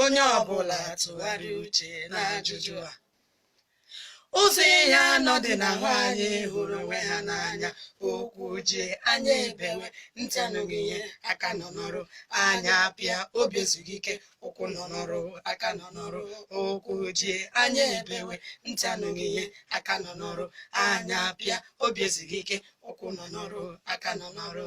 onye ọbụla tụgharịa uche n'ajụjụ a ụzọ ihe anọ dị n'ahụ anyị hụrụ onwe ha n'anya ụkwụ jie anya ebewe ntị anụghị ihe aka nọ n'ọrụ anya pịa obi ezughị ike ụkwụ nọ n'ọrụ aka nọ n'ọrụ ụkwụ jie anya ebewe ntị anụghị ihe aka nọ n'ọrụ anya pịa obi ezughị ike ụkwụ nọ n'ọrụ aka nọ n'ọrụ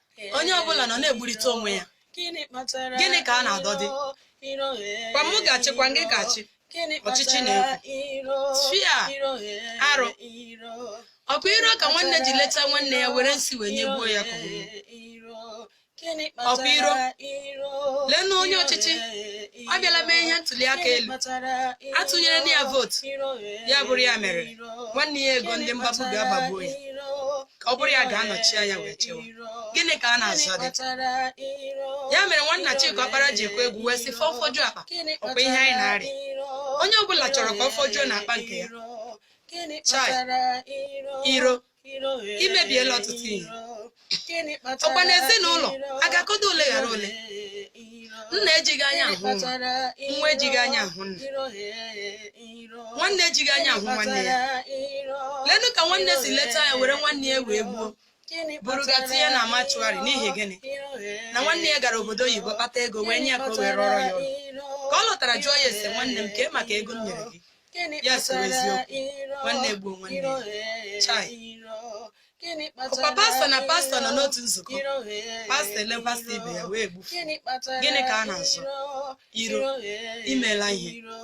onye ọbụla nọ na-egburịta onwe ya gịnị kpatara Gịnị ka a na-adọdị? iro, iro, eh, kwa mụ ga-achị kwa gị ga-achị gịnị ọchịchị kpatara na-ekwu. iro, tufia, iro, eh, arụ. iro, ọkwa iro ka nwanne ji leta nwanne ya were nsi wee nyegbuo ya ka ọ nwụọ. Ọkwa iro. Leenụ onye ọchịchị ọ bịala mee ihe ntuli aka elu a tụnyerela ya vootu ya bụrụ ya merie nwanne ya egoo ndị mgbagbu bịa gbagbuo ya ka ọ bụrụ ya ga-anọchi anya wee chewa gịnị ka a na-azọdị ya mere nwanna Chika Ọkpara ji kwee egwu wee sị fọ fọjuo akpa ọkwa ihe anyị na-arịa onye ọbụla chọrọ ka ọ fọjuo n'akpa nke ya chai iro imebiela ọtụtụ ihe ọkwa n'ezinụlọ a ga-akọdo ole ghara ole nna ejighị anya ahụ nwa nwa ejighị anya ahụ nna nwanne ejighị anya ahụ nwanne ya leenụ ka nwanne si leta ya were nwanne ya wee gbuo buru ga tinye na mortuary n'ihi gịnị na nwanne ya gara obodo oyibo kpata ego wee nye ya ka o wee rụọrọ ya ọrụ ka ọ lọtara jụọ ya sị nwanne m kee maka ego m nyere gị ya soro eziokwu nwanne gbuo nwanne chai Gịnị kpatara Ọkwa pastọ na pastọ nọ n'otu nzukọ. iro ghe Pastọ ele pastọ ibe ya iro? wee gbufu. Gịnị kpatara Gịnị ka a na-azụ? iro? Iro. Iro ghe Imela ihe. iro.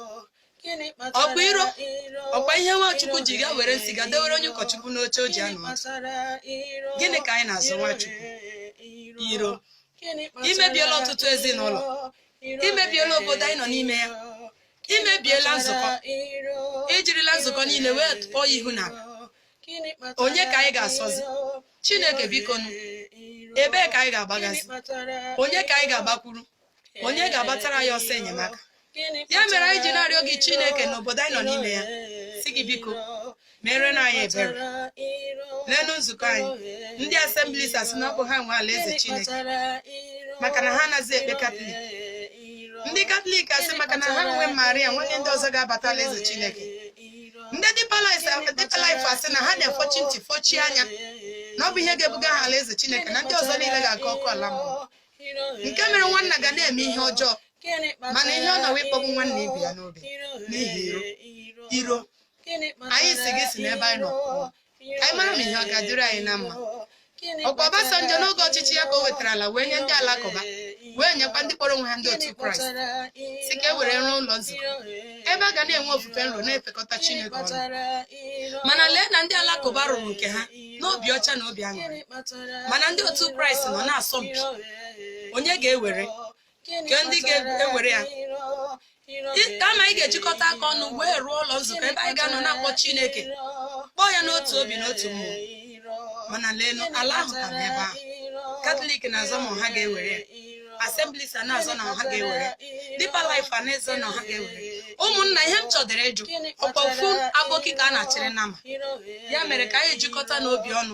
Gịnị kpatara Ọkwa iro? iro? Ọkwa ihe nwa Chukwu ji ga were nsi ga dewere onye ụkọchukwu n'oche o ji anọ ọdụ. Gịnị ka anyị na-azọ nwa Chukwu? Iro. Imebiela ọtụtụ ezinụlọ. Imebiela obodo anyị nọ n'ime ya. Imebiela nzukọ. Ijirila nzukọ niile wee tụọ ya ihu n'ala. onye ka anyị ga-asọzi chineke biko nụ ebee ka anyị ga-agbagazi onye ka anyị ga-agbakwuru onye ga-agbatara ya ọsọ enyemaka ya mere anyị ji na-arịọ gị chineke n'obodo anyị nọ n'ime ya sị gị biko meerenụ anyị ebere leenụ nzukọ anyị ndị Assemblies asị na ọ bụ ha nwe alaeze chineke maka na ha anaghị ekpe katọlik ndị katọlik asị maka na ha nwe maria o nwere ndị ọzọ ga-abata alaeze chineke ndị Deeper Life Deeper Life asị na ha na-efọchi ntị fọchie anya na ọ bụ ihe ga-ebuga ha alaeze Chineke na ndị ọzọ niile ga-aga ọkụ ala mmụọ nke mere nwanna ga na-eme ihe ọjọọ mana ihe ọ nọwa ịkpọgbu nwanna ibe ya n'obi n'ihi iro iro anyị sị gị si n'ebe anyị nọ pụọ ka anyị mara ma ihe ọ ga-adịrị anyị na mma ọkwa Obasanjo n'oge ọchịchị ya ka o wetara ala wee nye ndị alakụba wee nyekwa ndị kpọrọ onwe ha ndị otu kraịst si ka e were rụọ ụlọ nzukọ ebe a ga na-enwe ofufe nro na-efekọta chineke ọnụ mana lee na ndị alakụba rụrụ nke ha n'obi ọcha na obi aṅụrị mana ndị otu kraịst nọ na-asọ mpi onye ga-ewere nke ndị ga-ewere ya kama anyị ga-ejikọta aka ọnụ wee rụọ ụlọ nzukọ ebe anyị ga-anọ na-akpọ Chineke kpọọ ya n'otu obi n'otu mmụọ mana leenụ ala ahụ ka bụ ebe ahụ katọlik na-azọ ma ha ga-ewere ya Assemblies a na-azọ na ha ga-ewere Deeper Life a na-azọ na ha ga-ewere ụmụnna ihe m chọdịrị ịjụ ọkwa ofu aboki ka a na-achịrị nama ya mere ka anyị jikọtanụ obi ọnụ